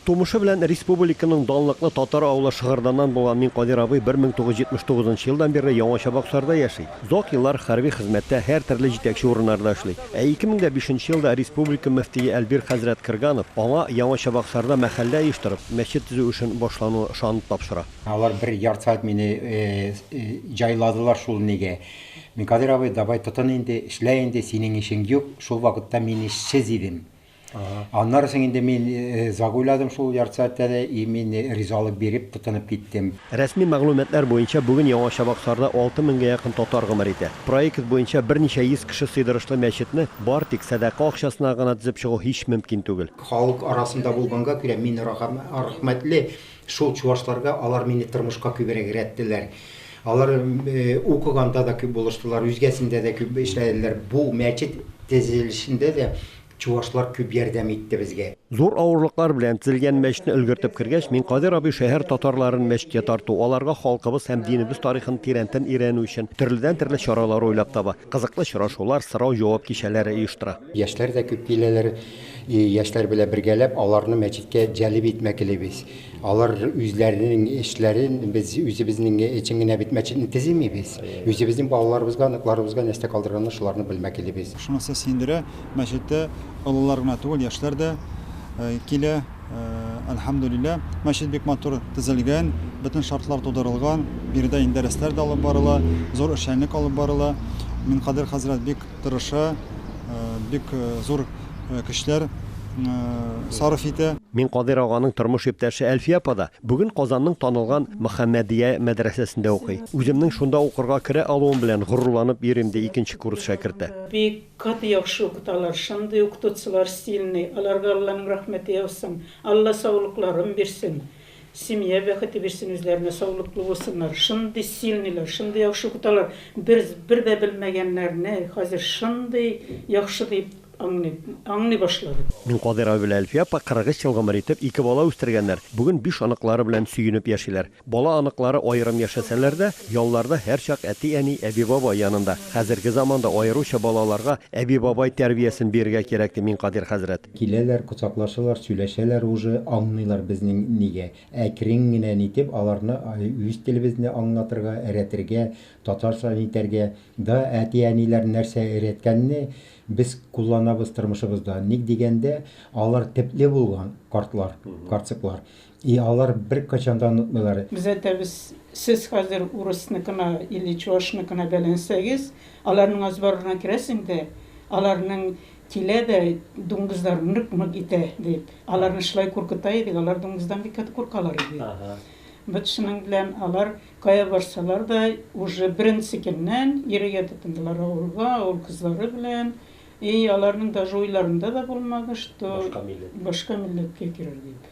Тумышы белән респубуликаның данлыклы Татар авылы Шыгырданнан булган Минкадир абый 1979 нчы елдан бирле Яңа Чабаксарда яши. Озак еллар хәрби хезмәттә һәртөрле җитәкче урыннарда эшли. Ә 2005 нче елда республика мөфтие Әлбир хәзрәт Крганов аңа Яңа Чабаксарда мәхәллә оештырып, мәчет төзү эшен башлауны ышанып тапшыра. Алар бер ярты сәгать мине җайладылар шул нигә. Минкадир абый, давай тотын инде, эшлә инде, синең эшең юк, шул вакытта мин эшсез идем. Аннары соң инде мин загуйладым шул ярты сәгатьтә дә и мин ризалык биреп тотынып киттем. Рәсми мәгълүматлар буенча, бүген Яңа Чабаксарда алты меңгә якын татар гомер итә. Проект буенча берничә йөз кеше сыйдырышлы мәчетне бар тик сәдака акчасына гына төзеп чыгу һич мөмкин түгел. Халык арасында булганга күрә мин рәхмәтле шул чувашларга, алар мине тормышка күбрәк рәттеләр. Алар укыганда да күп булыштылар, үзгәсендә дә күп эшләделәр. Бу мәчет тезелешендә дә Чувашлар күп ярдәм итте безгә. Зур авырлыклар белән тезелгән мәчетне өлгертеп кергәч, мин Кадир абый шәһәр татарларын мәчеткә тарту, аларга халкыбыз һәм динебез тарихын тирәнтен өйрәнү өчен төрледән-төрле чаралар уйлап таба, кызыклы очрашулар, сорау-җавап кичәләре оештыра. Яшьләр дә күп киләләр. Яшьләр белән бергәләп аларны мәчеткә җәлеп итмәкелибез. Алар үзләренең эшләрен без үзебезнең өчен генә бит мәчетне төземибез. Үзебезнең балаларыбызга, оныкларыбызга нәрсә калдырганны шуларны белмәк килибез. Шунысы сөендерә, мәчеттә олылар гына түгел, яшьләр дә килә, әлхәмдүлилләһ. Мәчет бик матур төзелгән, бөтен шартлар тудырылган. Биредә инде дәресләр дә алып барыла, зур эшчәнлек алып барыла. Минкадер хәзрәт бик Тырыша, бик зур көчләр сарыф итә. Мин Кадыйр аганың тормыш иптәше Әлфия апа да бүген Казанның танылган Мөхәммәдия мәдрәсәсендә укый. Үземнең шунда укырга керә алуым белән горурланып йөрим, ди икенче курс шәкерте. Бик каты яхшы укыталар, шундый укытучылар стильный, аларга Алланың рәхмәте яусын, Алла саулыкларын бирсен. Семья бәхете бирсен үзләренә саулыклы булсыннар шундый сильныйлар шундый яхшы укыталар бер бер дә белмәгәннәрне хәзер шундый яхшы дип аңлыйм аңлый башладым. Мин Кадыйр абый белән Әлфия апа 43 ел гомер итеп ике бала үстергәннәр, бүген биш оныклары белән сөенеп яшиләр. Бала оныклары аерым яшәсәләр дә, ялларда һәрчак әти әни, әби бабай янында. Хәзерге заманда аеруча балаларга әби бабай тәрбиясен бирергә кирәк ди Минкадир хәзрәт. Киләләр, кочаклашалар, сөйләшәләр уже, аңныйлар безнең нигә әкрен генә нитеп аларны үз телебезне аңлатырга, эрәтергә, татарча нитәргә да әти-әниләр нәрсә эрәткәнне без кулланабыз тормышыбызда, ник дигәндә, алар тепле булган, картлар, карцыклар. И алар бер качан да онытмыйлар. Без әйтәбез, сез хәзер урысныкына или чуашныкына бәйләнсәгез, аларның азбарына керәсең дә, аларның килә дә дуңгызлар нык-нык итә, дип. Аларны шулай куркыта идек, алар дуңгыздан бик каты куркалар иде. Бит шуның белән алар кая барсалар да, уже беренче көннән йөрергә тотындылар авылга, авыл кызлары белән. И аларның даже уйларында да булмады, что башка милләткә керер дип.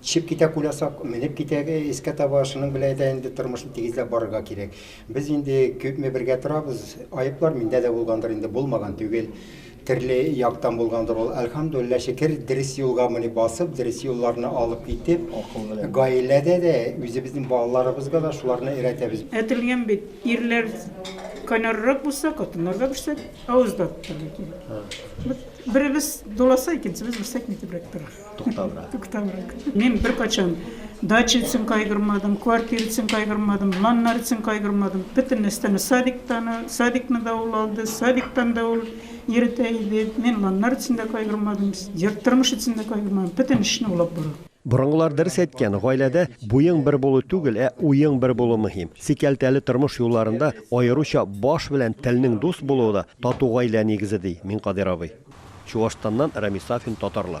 Төшеп китә кулясак, менеп китә искә таба, шуның белән дә инде тормышны тигезләп барырга кирәк. Без инде күпме бергә торабыз, аеплар миндә дә булгандыр инде, булмаган түгел. Төрле яктан булгандыр ул. Әлхәмдуллиллаһ, шөкер, дөрес юлга мони басып, дөрес юлларны алып китеп, гаиләдә дә, үзебезнең балаларыбызга да шуларны өйрәтәбез. Әйтелгән бит, ирләр кайнаррак булса, хатыннар да берсә авыз да тотарга кирәк. Беребез дуласа, икенчебез берсә кимтебрәк тора. Тукталра. Тукталра. Мин беркайчан дача өчен кайгырмадым, квартира өчен кайгырмадым, планнар өчен кайгырмадым. Бөтен нәрсәне садиктан, садикны да ул алды, садиктан да ул йөртә иде. Мин планнар өчен дә кайгырмадым, тормыш өчен дә кайгырмадым. Бөтен эшне ул алып бара. Борынгылар дөрес әйткән, гаиләдә буең бер булу түгел, ә уең бер булу мөһим. Сикәлтәле тормыш юлларында аеруча баш белән телнең дус булуы да тату гаилә нигезе, ди Минкадыйр абый. Чуашстаннан Рамис Сафин, Татарлар.